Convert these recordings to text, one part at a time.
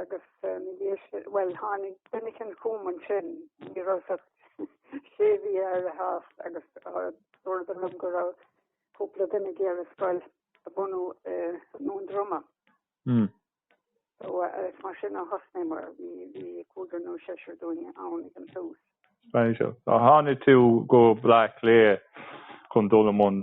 agus bhuel tháinig muid an chumann sin ní raibh sí ach sé mhí ar a sháith agus dúradar dom go raibh cúpla duine ag iarraidh scoil a bhunú i nDún Droma. Hmm. mar sin a thosnaigh mar bhí cúigear nó seisear dínn ann ag an tús. So tháinig tú go Bleá Cliath chun dul i mbun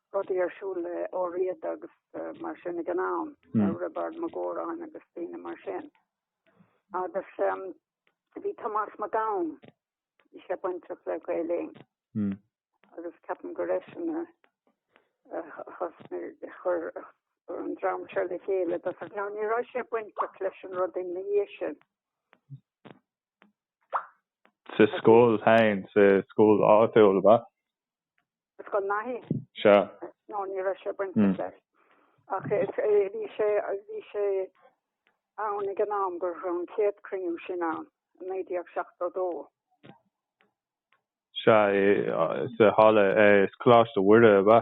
rudaí ar siúl le Ó Riada agus mar sin ag an am Riobard Mac Góráin agus daoine mar sin. Agus bhí Tomás Mac Gabhann bhí sé bainteach le Gaeilinn hmm. agus ceapaim go raibh sin chur an dream seo le chéile ach ní raibh sé bainteach leis an rud ina dhiaidh sin. Sa scoil féin, sa scoil áitiúil ab ea? Scoil Naithí. Sea. Nó ní raibh sé bainteach leis. Ach bhí sé, bhí sé ann ag an am go raibh an chéad cruinniú sin ann, i 1972. Sea, sa halla, Coláiste Mhuire ab ea.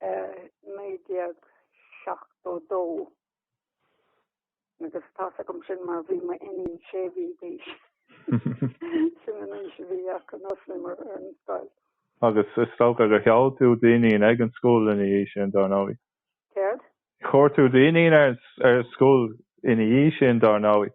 1972 agus tá a fhios agam sin mar bhí m'iníon sé mhí d'aois sin an aois a bhí aici nuair a thosnaíomar an scoil. Agus is dócha gur chuir tú d'iníon ag an scoil ina dhiaidh sin, dár ndóigh? Céard? Chuir tú d'iníon ar an scoil ina dhiaidh sin, dár ndóigh?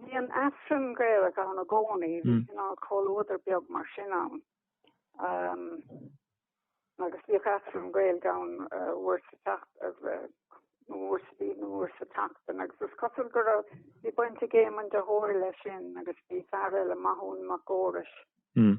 Bhí an tAifreann Gaelach ann i gcónaí, bhí hmm. cineál comhluadar beag mar sin ann. Um, agus bhíodh Aifreann Gaelach ann uh, uair sa tseacht uh, uair sa bhíodh uair sa tseachtain agus is cosúil go raibh bhí baint ag Éamonn de hÓir leis sin agus bhí fear eile Maitiú Mac Fheorais. Hmm.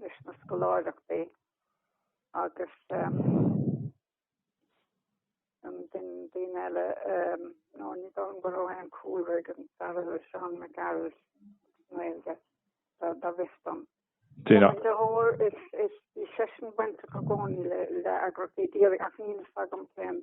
leis na scoláireachtaí agus daoine eile ní dóigh liom go raibh aon cúlra ag an Saileoir Seán Mac Gearailt Gaeilge go bhfios dom. De hÓir bhí seisean bainteach i gcónaí le eagraíochtaí díreach ach níl fhios agam cén.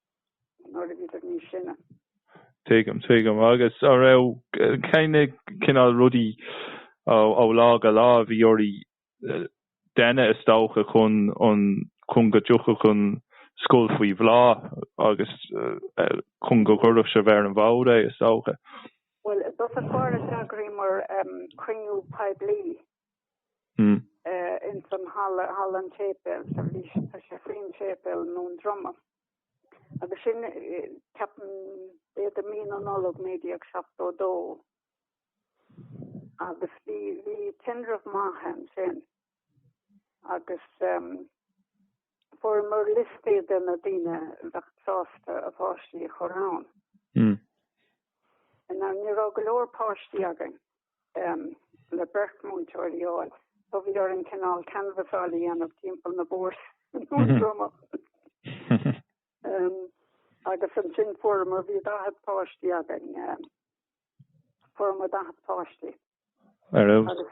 nuair a bhíodar níos sine. Tuigim, tuigim. Agus an raibh cén cineál rudaí ó lá go lá a bhí oraibh a dhéanamh is dócha chun an, chun go dtiocfadh an scoil faoi bhláth agus chun go gcuirfeadh sibh ar an bhfód é is dócha? Bhuel, ar dtús d'eagraíomar cruinniú poiblí ins an halla, halla an tséipéil, sa bhrí sin tá sé faoin tséipéal i nDún Droma. Agus sin, ceapaim, b'fhéidir mí na Nollag 1972. Agus bhí, bhí tinreamh maith ansin agus, Fuaireamar liostaí de na daoine a bheadh sásta a bpáistí a chur ann. Ní raibh go leor páistí againn le beirt múinteoirí a fháil, so bhí orainn cineál canvasáil a dhéanamh timpeall na mbóthar. Agus ansin fuaireamar, bhí 40 páistí againn, fuaireamar 40 páistí. Ar fheabhas.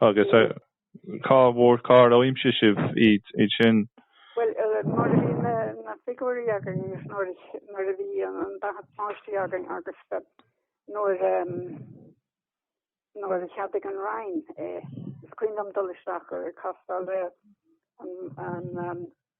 Agus cá bhfuair cár aimsigh sibh iad sin? Bhuel, nuair a bhí na figiúirí againn agus nuair a bhí an daichead páistí againn agus nuair a cheadaigh an Roinn é, is cuimhin liom dul isteach ag castáil an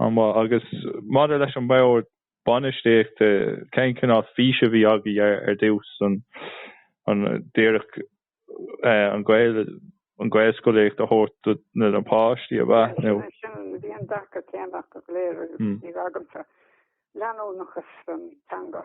An-mhaith. Agus maidir leis an mbord bainistíochta, cén cineál fís a bhí agaibh ar dtús? An díreach an Ghaelscolaíocht a thabhairt do na páistí ab ea nó? Sin, bhí an dearcadh céanna acu go léir a bhí agamsa, leanúnachas don teanga.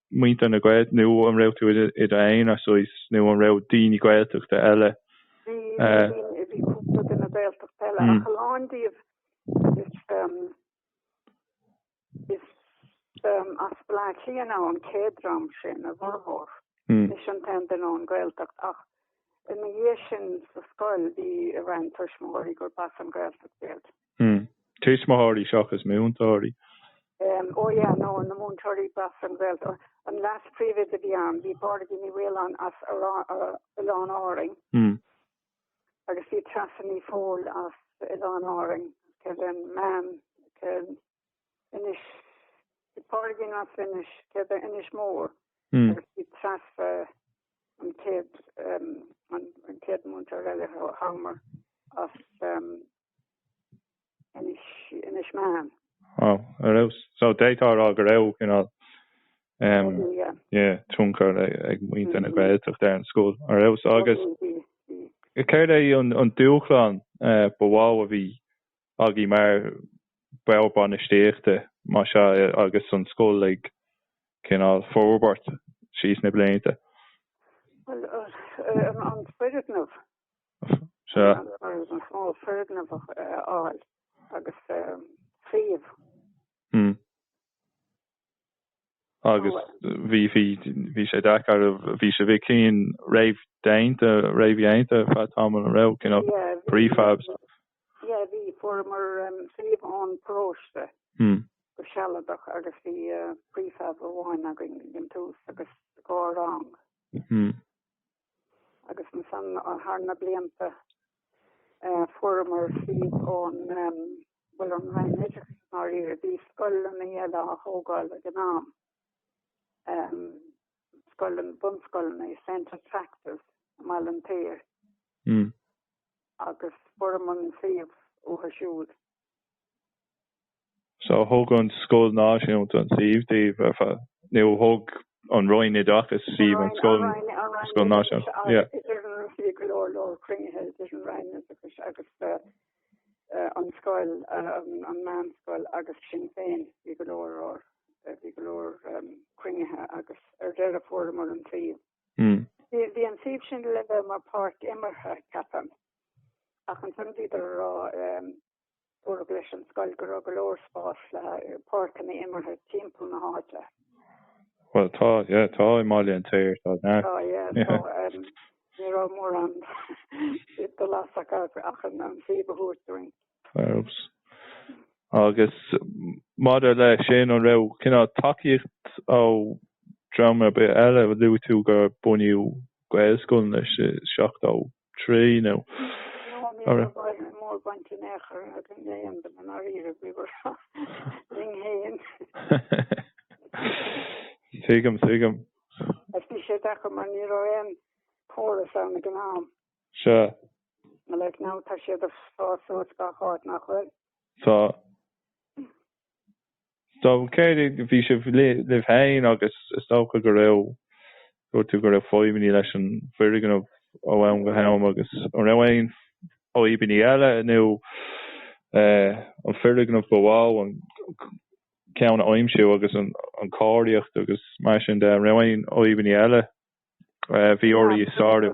muintir na Gaeltachta nó an raibh tú i d'aonar ansin nó an raibh daoine Gaeltachta eile? Bhí, bhí cúpla duine Gaeltachta eile ach a lán díobh is, is as Baile Átha Cliath an chéad dream sin, a bhformhór. Mise an t-aon duine ón Gaeltacht ach ina dhiaidh sin sa scoil bhí roinnt tuismitheoirí gur b'as an Gaeltacht iad. Hmm. Tuismitheoirí seachas múinteoirí. Em, oh yeah, no, na múinteoirí ba as an Ghaeltacht. An leas-phríomhoide a bhí ann, bhí Pádraigín Ní Mhaoláin as Oileáin Árainn. Hmm. Agus bhí Treasa Ní Fhátharta as Oileáin Árainn. Cén ceann? Cén Inis? Bhí Pádraigín as Inis, céard é Inis Mór? Hmm. Agus bhí Treasa an céad, em, an céad múinteoir eile, a fuaireamar, as, em, Inis Meáin. Wow. Ar fheabhas. So d'fhéadfá a rá go raibh cineál um, Ó, yeah. yeah, tionchar ag, ag muintir na Gaeltachta ar an scoil. Ar fheabhas. Agus céard é an, an dúshlán eh, ba mhó a bhí agaí mar bord bainistíochta más ea eh, agus an scoil ag cineál forbairt síos na blianta? Well, uh, uh, an, an foirgneamh Ba mhó foirgneamh a fháil agus suíomh. Agus bhí sé deacair, bhí sibh i gcinn réamhdhéanta, réamhdhéanta feadh tamaill an raibh, cineál, prefabs. Yeah, bhí, fuaireamar suíomh ón bparóiste go sealadach agus bhí prefab amháin againn ar dtús agus dhá rang. agus ansan thar na blianta eh, fuaireamar suíomh ón bhuel ón Roinn Oideachais i ndáiríre bhí scoileanna eile á thógáil ag an am. Scoileanna bunscoileanna St. Attracta's i mBaile an tSaoir. Hmm. agus fuaireamar an suíomh uathu siúd. So thug an scoil náisiúnta an suíomh daoibh ar fad? Nó thug an Roinn Oideachais suíomh an scoil náisiúnta? Yeah. Bhí go leor leor cruinnithe idir an Roinn Oideachais agus an scoil, an meánscoil agus sinn féin. Bhí go leor or, bhí go leor cruinnithe agus ar deireadh fuaireamar an suíomh. Bhí an suíomh sin le bheith mar páirc imeartha, ceapaim. Ach ansan bhíodar a rá Dúradh leis an scoil go raibh go leor spás le páirceanna imeartha timpeall na háite. Bhuel tá, yeah, tá i mBaile an tSaoir, tá, yeah. Tá, yeah, tá. Ní raibh mórán dul as acu ach an suíomh a thabhairt dúinn. Oops. Agus maidir le sin, an raibh cineál tacaíocht ó dhream ar bith eile? Luaigh tú gur bunaíodh Gaelscoileanna i 70. trí nó ar. Ní raibh mórán baint in aon chor le éinne i ndáiríre, bhíomar linn féin. Tuigim, tuigim. Ach bhí sé deacair mar ní raibh aon chóras ann ag an am. Sea. Mar like now tá siad ag fás suas gach áit, nach bhfuil? Tá. So céard é bhí sibh libh féin agus is dócha go raibh, dúirt tú go raibh fadhbannaí leis an bhfoirgneamh ó am go ham agus an raibh aon fhadhbannaí eile nó an foirgneamh ba mhó an ceann a aimsiú agus an cóiríocht agus mar sin de, an raibh aon fhadhbannaí eile a bhí oraibh a shárú?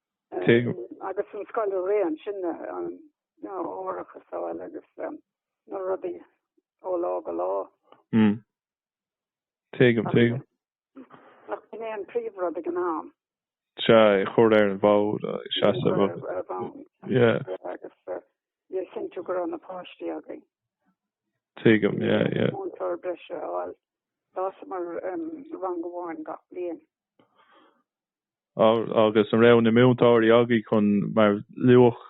agus an scoil a rith. Ansin árachas a fháil agus na rudaí ó lá go lá. Tuigim, tuigim. Ach b'in é an príomh rud ag an am. Sea, é a chur ar an bhfód, ag seasamh agus. Ar an bhfód. Sea. Agus bheith ag cinntiú go raibh na páistí agaibh. Tuigim, yeah, yeah. Bhí múinteoir breise a fháil. D'fhásamar rang amháin gach bliain. agus an raibh na múinteoirí agaibh chun mar luadh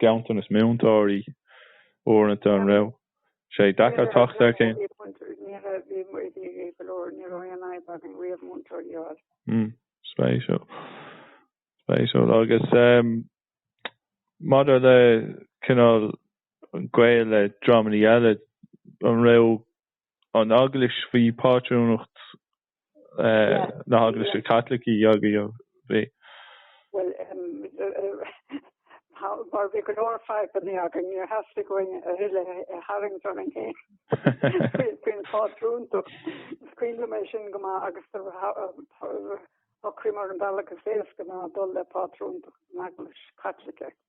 ganntanas múinteoirí uaireanta an raibh sé deacair teacht ar cheann. Ní raibh, bhí muid ag éirí go leor, ní raibh aon fhadhb againn riamh múinteoirí a fháil. Mm. Spéisiúil. Spéisiúil. Agus maidir le cineál gaol le dreamannaí eile, an raibh an Eaglais, faoi phátrúnacht na hEaglaise Caitlicí, agaibh, bhí. Bhuel, mar bhí go leor fadhbanna againn, níor theastaigh uainn a thuilleadh a tharraingt orainn féin faoin phátrúnacht. Is cuimhin liom é sin go maith agus shocraíomar an bealach is éasca ná dul le pátrúnacht na hEaglaise Caitlicí.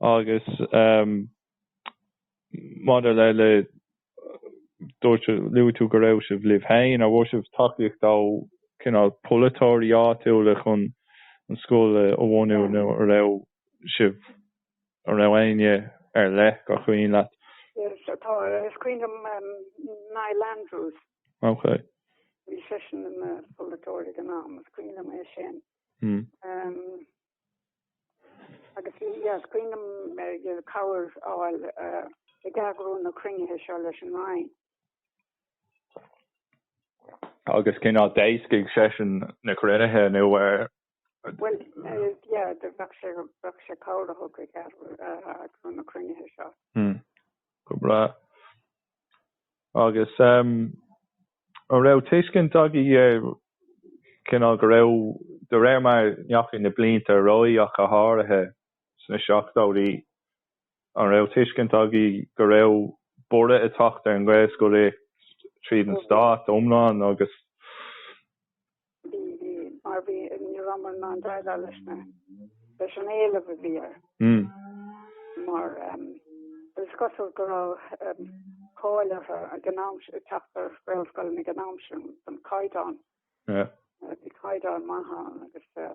Agus maidir le, luaigh tú go raibh sibh libh féin, an bhfuair sibh tacaíocht ó cineál polaiteoirí áitiúla chun an scoil a bhunú nó an raibh sibh An raibh éinne ar leith gur chuimhin leat? Yes, is cuimhin liom Niall Andrews. Ok. Bhí seisean ina pholaiteoir ag an am. Is cuimhin liom é sin. Agus bhí, yeah, is cuimhin liom cabhair a fháil ag eagrú na cruinnithe seo leis an Roinn. Agus cén fháth d'éascaigh seisean na cruinnithe nó ar Bhuel yeah bheadh sé bheadh sé cabhair a thug ag eagrú na cruinnithe seo. Hmm go breá. Agus ehm an raibh tuiscint agaí cineál go raibh de réir mar a ndeachaigh na blianta ar aghaidh ach go háirithe sna seachtóidí an raibh tuiscint agaibh go raibh borradh ag teacht ar an nGaelscolaíocht tríd an stát iomlán agus Bhí, bhí, mar bhí, ní rabhamar in ann déileáil leis na, leis an éileamh a bhí air. Mm. Mar, ehm, is cosúil go raibh, ehm, cáil mhaith ag an am sin, tagtha ar ghaelscoileanna ag an am sin, don caighdeán. Yeah. Eh, bhí caighdeán maith ann agus, eh,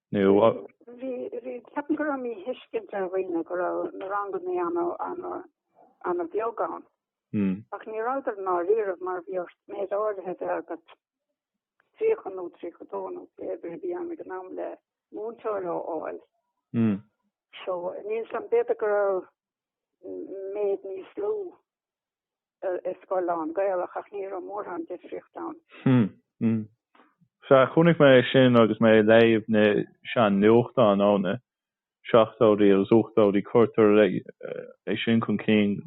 nó. Ceapaim go raibh míthuiscint ar dhaoine go raibh na ranganna an-bheag ann. Ach ní rabhadar ná riamh mar bhí ort méid áirithe a bheith agat, 30 nó 32 nó cibé a bhí ann ag an am le múinteoir a fháil. So níl 's agam b'fhéidir go raibh méid níos lú i scoil lán-Gaelach ach ní raibh mórán difríocht ann. Hm. Sea, chonaic mé é sin agus mé ag léamh na sean-nuachtáin ó na seachtóidí agus na hochtóidí. Cuirtear é sin chun cinn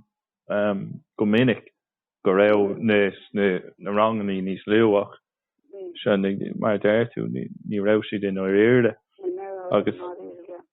go minic go raibh na ranganna níos lú ach sea, mar a deir tú, ní raibh siad i ndáiríre agus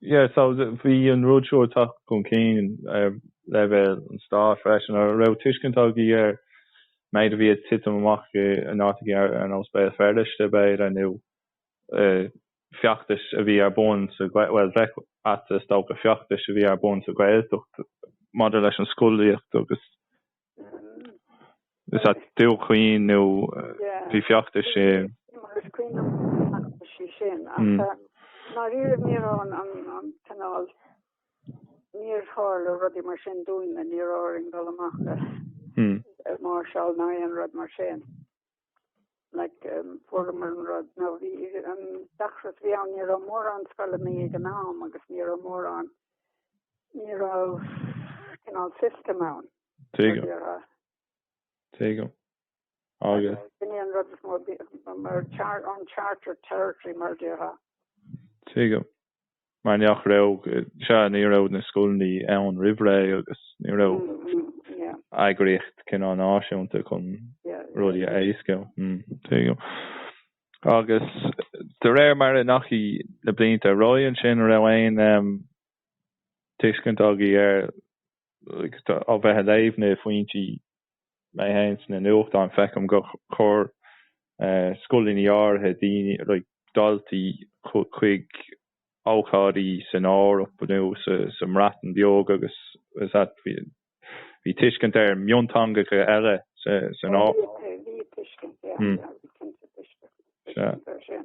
Yeah so bhí an rud seo ag teacht chun cinn ar leibhéal an stáit freisin. Ar raibh tuiscint agaí ar an méid a bhí ag titim amach in áiteachaí ar nós Béal Feirste b'fhéidir nó feachtais a bhí ar bun sa, bhuel bheadh sé ait is dócha, feachtais a bhí ar bun sa Ghaeltacht maidir leis an scolaíocht agus Is ea Dún Chaoin nó bhí feachtais. Is cuimhin liom na feachtaisí sin ach i ndáiríre ní raibh an an cineál, níor tharla rudaí mar sin dúinne níor ghá dúinn dul amach ag máirseáil ná aon rud mar sin. like um former rod no vi um dachras vi an ni mor an skolle me gan am agus ni mor an ni kin al system an te te an rod mor mar char an charter territory mar ha te mar nach raibh, sea, ní raibh na scoileannaí ann roimh ré agus ní raibh eagraíocht cineál náisiúnta chun rudaí a éascú. Agus de réir mar a ndeachaigh na blianta ar aghaidh ansin, an raibh aon tuiscint agaibh ar, ó bheith ag léamh na bhfoinsí mé féin sna nuachtáin feicim gur chuir scoileanna áirithe daoine, like daltaí chuig ócáidí san Eoraip nó sa mBreatain Bheag agus is ea, bhí tuiscint ar mhionteangacha eile san Eoraip. Bhí tuiscint, yeah, bhí cinnte tuiscint ar sin.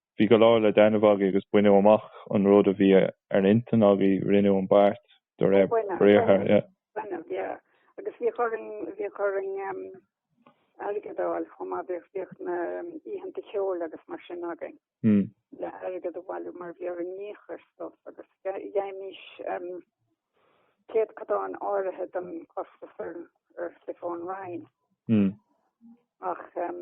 Bhí go leor le déanamh agaibh agus baineadh amach an rud a bhí ar intinn agaibh, rinneadh an beart de réir briathar. Baineadh, yeah, agus bhíodh orainn, bhíodh orainn airgead a fháil chomh maith, bhíodh, bhíodh na oícheanta ceoil agus mar sin againn. Mm. Le airgead a bhailiú mar bhí orainn íoc ar stuff agus dhéimís um, céatadán áirithe den costas orainn fhéin a roinnt. Mm. Ach um,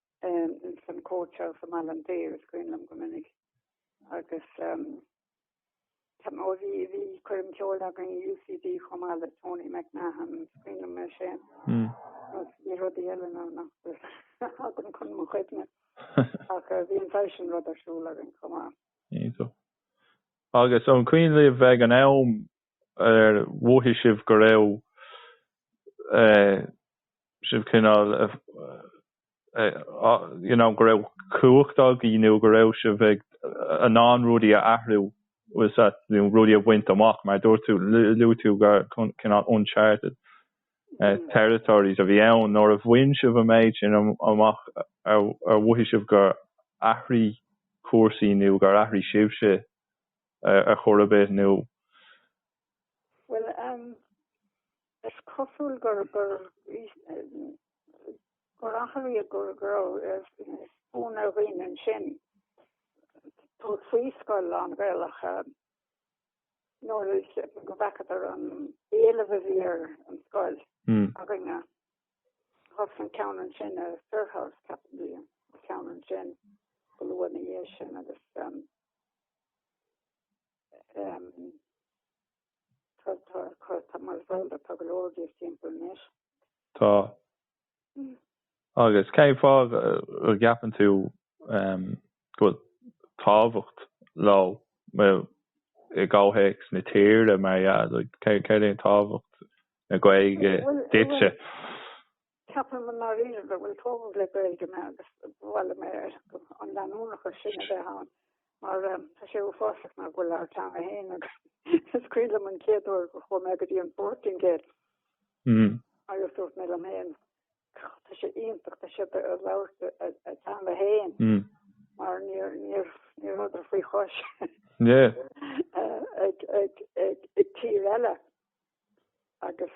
Ins an court house i Malin Dare is cuimhin liom go minic agus bhí cuirim ceoil againn UCD chomh maith le Tony McMahon is cuimhin liom é sin. Hmm. Tá rudaí eile ann nach dtagann chun mo chuimhne ach bhí an saghas sin rud ar siúl againn chomh maith. Agus an cuimhin libh bheith ag an am ar mhothaigh sibh go raibh sibh cineál you know go raibh cumhacht agaí nó go raibh sibh ag in ann rudaí a athrú is ea nó rudaí a bhaint amach mar dúirt tú luaigh tú gur cineál uncharted territories a bhí ann nuair a bhain sibh an méid sin amach ar mhothaigh sibh gur athraigh cúrsaí nó gur athraigh sibhse a chur ar bith nó. Bhuel, is cosúil gur athraíodh go raibh fonn ar dhaoine ansin dul faoi scoil lán-Ghaelach nuair a bhfaca siad an t-éileamh a bhí ar an scoil againne. Thuas an ceann ansin i Firhouse, ceapaim, bhí an ceann ansin go luath ina dhiaidh sin agus. Tá. Agus cén fáth a gceapann tú go bhfuil tábhacht léi i gcomhthéacs na tíre mar a, céard é an tábhacht na Gaeilge duitse? Ceapaim i ndáiríre go bhfuil tógadh le Gaeilge mé agus ba mhaith liom an leanúnachas sin a bheith ann mar tá sé uafásach nach bhfuil ár teanga féin agus is cuimhin liom an chéad uair go chuaigh mé go dtí an bPortaingéil agus dúirt mé liom féin tá sé iontach tá siad ag labhairt a dteanga féin mar ní raibh ní raibh ní rabhadar faoi chois ag tír eile agus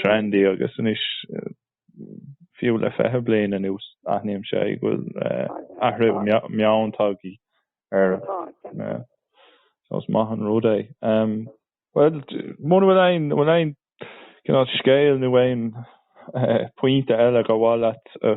Trendy agus anois fiú le fiche bliain anuas aithním go bhfuil athrú meoin tagthaí ar, so is maith an rud é. Bhuel muna bhfuil aon bhfuil aon cineál scéal nó aon pointe eile ba mhaith leat a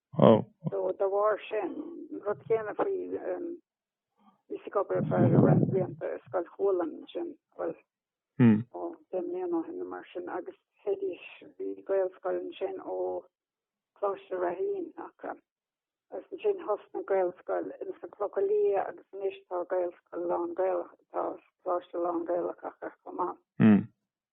Ó. So dá bharr sin, an rud céanna faoi, bhí sí ag obair ar feadh roinnt blianta i Scoil Chualann ansin, bhuel, ó, deich mbliana ó shin nó mar sin, agus théidís, bhí Gaelscoil ansin ó Coláiste Ráithín acu, agus ansin thosnaigh Gaelscoil ins na Clocha Liatha agus anois tá Gaelscoil lán-Gaelach, tá Coláiste lán-Gaelach acu chomh maith.